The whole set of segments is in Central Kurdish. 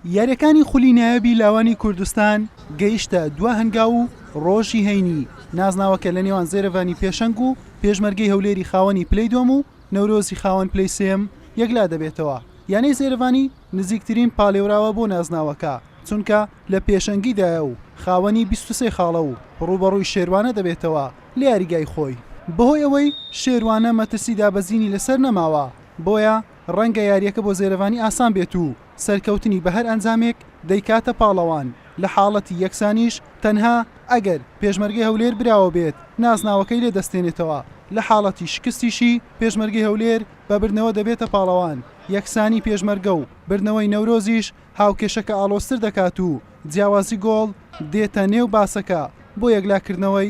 یارییەکانی خولی نایابی لاوانی کوردستان گەیشتە دوا هەنگاو و ڕۆژی هەینی نازناوەکە لە نێوان زێرەڤانی پێشەنگ و پێشمەرگەی هەولێری خاوەنی پلەی دۆم و نەورۆزی خاوەن پلەی سێم یەکلا دەبێتەوە یانەی زێرەڤانی نزیکترین پالێوراوە بۆ نازناوەکە چونکە لە پێشەنگیدایە و خاوەنی 23 خاڵە و ڕووبەڕووی شێروانە دەبێتەوە لە یاریگای خۆی بەهۆی ئەوەی شێروانە مەترسی دابەزینی لەسەر نەماوە بۆیە ڕەنگە یارییەکە بۆ زێرەڤانی ئاسان بێت و سەرکەوتنی بە هەر ئەنجامێک دەیکاتە پاڵەوان، لە حاڵەتی یەکسانیش تەنها ئەگەر پێشمەرگەی هەولێر براوە بێت نازناوەکەی لێ دەستێنێتەوە، لە حاڵەتی شکستیشی پێشمەرگەی هەولێر بە بردنەوە دەبێتە پاڵەوان، یەکسانی پێشمەرگە و بردنەوەی نەورۆزیش هاوکێشەکە ئاڵۆزتر دەکات و جیاوازی گۆڵ دێتە نێو باسەکە بۆ یەکلاکردنەوەی.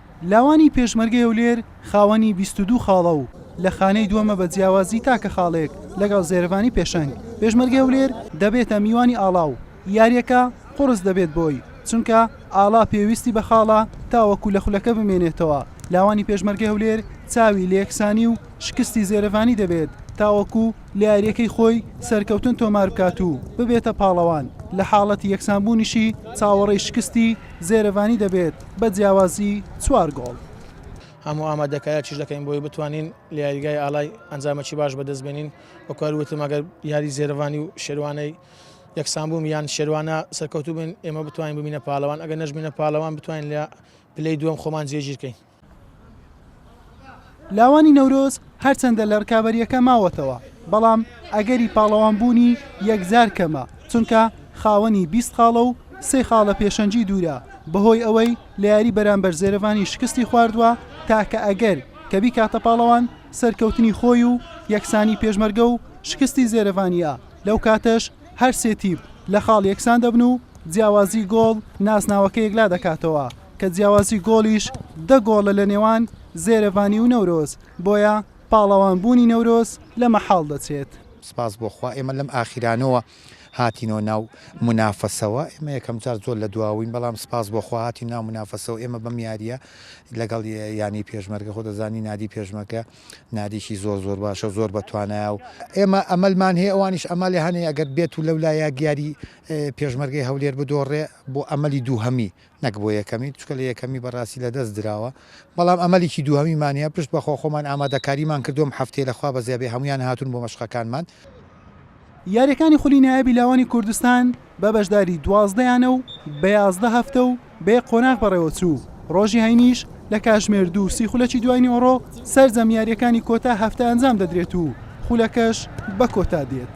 لاوانی پێشمەرگەی هەولێر خاوەنی بیست و دوو خاڵە و لە خانەی دووەمە بە جیاوازی تاکە خاڵێک لەگەڵ زێرەڤانی پێشەنگ. پێشمەرگەی هەولێر دەبێتە میوانی ئاڵا و یارییەکە قوڕس دەبێت بۆی، چونکە ئاڵا پێویستی بە خاڵە تاوەکو لە خولەکە بمێنێتەوە، لاوانی پێشمەرگەی هەولێر چاوی لە یەکسانی و شکستی زێرەڤانی دەبێت تاوەکو. لە یارییەکەی خۆی سەرکەوتن تۆمار بکات و ببێتە پاڵەوان، لە حاڵەتی یەکسانبوونیشی چاوەڕێی شکستی زێرەڤانی دەبێت بە جیاوازی چوار گۆڵ. هەموو ئامادەکارییش دەکەین بۆی بتوانین لە یاریگای ئاڵای ئەنجامەکی باش بەدەست بێنین، وەکو هەر وتم ئەگەر یاری زێرەڤانی و شێروانەی یەکسانبوون یان شێروانە سەرکەوتوو بن ئێمە بتوانین ببینە پاڵەوان، ئەگەر نەشبینە پاڵەوان بتوانین لە پلەی دووەم خۆمان جێگیرکەین. لاوانی نەورۆز هەرچەندە لە رکابەرییەکە ماوەتەوە، بەڵام ئەگەری پاڵەوانبوونی یەکجار کەمە، چونکە خاوەنی بیست خاڵە و سێ خاڵە پێشەنگی دوورە، بەهۆی ئەوەی لە یاری بەرامبەر زێرەڤانی شکستی خواردووە، تاکە ئەگەر کە بیکاتە پاڵەوان سەرکەوتنی خۆی و یەکسانی پێشمەرگە و شکستی زێرەڤانییە، لەو کاتەش. هەر سێ تیپ لە خاڵ یەکسان دەبن و جیاوازی گۆڵ نازناوەکە یەکلا دەکاتەوە کە جیاوازی گۆڵیش دە گۆڵە لە نێوان زێرەڤانی و نەورۆز، بۆیە پاڵەوان بوونی نەورۆز لە مەحاڵ دەچێت. سپاس بۆ خوا ئێمە لەم ئاخیرانەوە هاتینەوە ناو مونافەسەوە ئێمە یەکەم جار زۆر لە دواوین بەڵام سپاس بۆ خوا هاتین ناو مونافەسەوە ئێمە بەم یاریە لەگەڵ یانەی پێشمەرگە خۆ دەزانی نادی پێشمەرگە ناریکی زۆر زۆر باشە و زۆر بەتوانایە و ئێمە ئەمەلمان هەیە ئەوانیش ئەمالی هەنێ ئەگەر بێت و لەو لا یاگیاری پێشمەرگەی هەولێر بدۆڕێ بۆ ئەمەلی دووهەمی نەک بۆ یەکەمی چکە لە یەکەمی بەڕاستی لە دەست دراوە بەڵام ئەمەلیکی دووهەمیمانە پشت بەخۆ خۆمان ئامادەکاریمان کردوم هەفتەی لەخوا بەزیابێ هەمویان هاتون بۆ مەشقەکانمان. یارییەکانی خولی نایابی لاوانی کوردستان بە بەشداری دوازدە یانە و بە یازدە هەفتە و بە یەک قۆناغ بەڕێوەچوو، ڕۆژی هەینیش لە کاتژمێر دوو و سی خولەکی دوایینیئۆڕۆ سەرجەم یارییەکانی کۆتا هەفتە ئەنجام دەدرێت و خولەکەش بە کۆتا دێت.